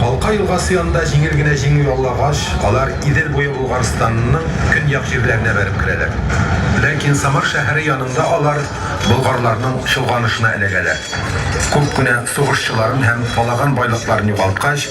Калка елгасы янында җиңел генә җиңү яулагач, алар Идел буе Болгарстанның көньяк җирләренә бәреп керәләр. Ләкин Самар шәһәре янында алар болгарларның чолганышына эләгәләр. Күп кенә сугышчыларын һәм калаган байлыкларын югалткач,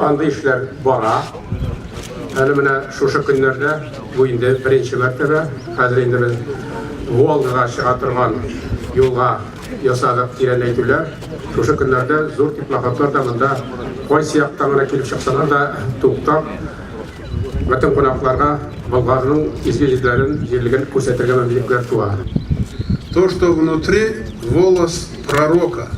Андый эшләр бара. Әле менә шушы көннәрдә, бу инде беренче мәртәбә, хәзер инде без Волгага чыга торган юлга ясадык тирәнәйтүләр. Шушы көннәрдә зур теплоходлар да монда кайсы яктан гына килеп чыксалар да туктап, бөтен кунакларга Болгарның изге йөзләрен, җирлеген күрсәтергә мөмкинлекләр туа. То, что внутри, волос пророка.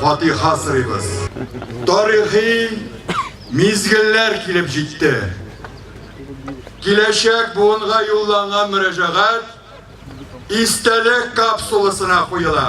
фатиха сорыйбыз. Тарихи мизгелләр килеп җитте. Киләчәк буынга юлланган мөрәҗәгать истәлек капсуласына куела.